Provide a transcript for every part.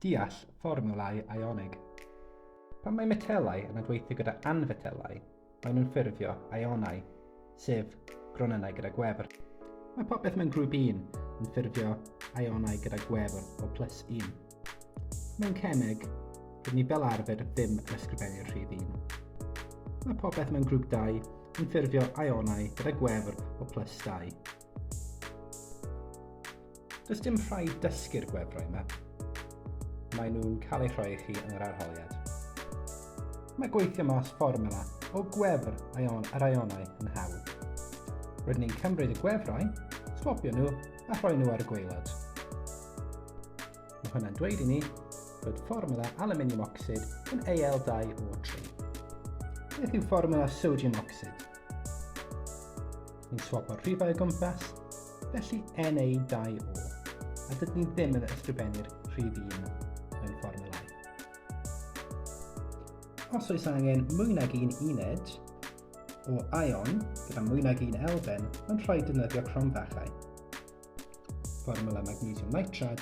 Deall fformiwlau ionig. Pan mae metelau yn adweithio gyda anfetelau, maen nhw'n ffurfio ionau, sef gronynnau gyda gwefr. Mae popeth mewn grŵp 1 yn ffurfio ionau gyda gwefr o plus 1. Mewn cemeg, rydyn ni fel arfer ddim yn ysgrifennu'r rhif 1. Mae popeth mewn grŵp 2 yn ffurfio ionau gyda gwefr o plus 2. Does dim rhaid dysgu'r gwefrau yma. Mae nhw'n cael eu rhoi i chi yn yr arholiad. Mae gweithio mas fformula o gwefr aion ar aionau yn hawdd. Rydyn ni'n cymryd y gwefrau, swapio nhw a rhoi nhw ar y gweilod. Mae hwnna'n dweud i ni bod fformula aluminium oxid yn AL2O3. Beth yw fformula sodium oxid? Ni'n swapo'r rhifau o gwmpas felly NA2O, a dydyn ni ddim yn ysgrifennu'r rhif un mewn fformulau. Os oes angen mwy nag un uned o ion gyda mwy nag un elfen, mae'n rhaid defnyddio cromfachau. Fformula magnesium nitrad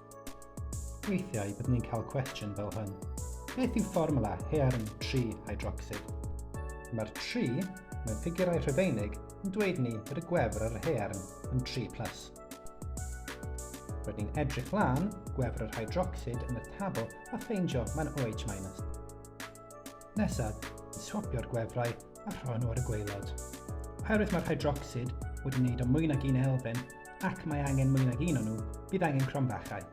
Weithiau byddwn ni'n cael cwestiwn fel hyn. Beth yw fformula hearn tri hydrocsid? Mae'r tri mewn ffigurau rhufeinig yn dweud ni bod y gwefr ar yr hearn yn 3+. Plus. Rydyn ni'n edrych lan gwefr yr hydrocsid yn y tabl a ffeindio mae'n OH-. Nesaf, swapio'r gwefrau a rhoi nhw ar y gwaelod. Oherwydd mae'r hydrocsid wedi wneud o mwy nag un elfen ac mae angen mwy nag un o'n nhw, bydd angen cromfachau.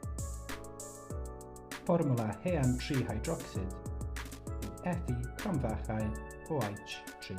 Fformwla hean 3 hydrocsid. Ethi cromfachau OH3.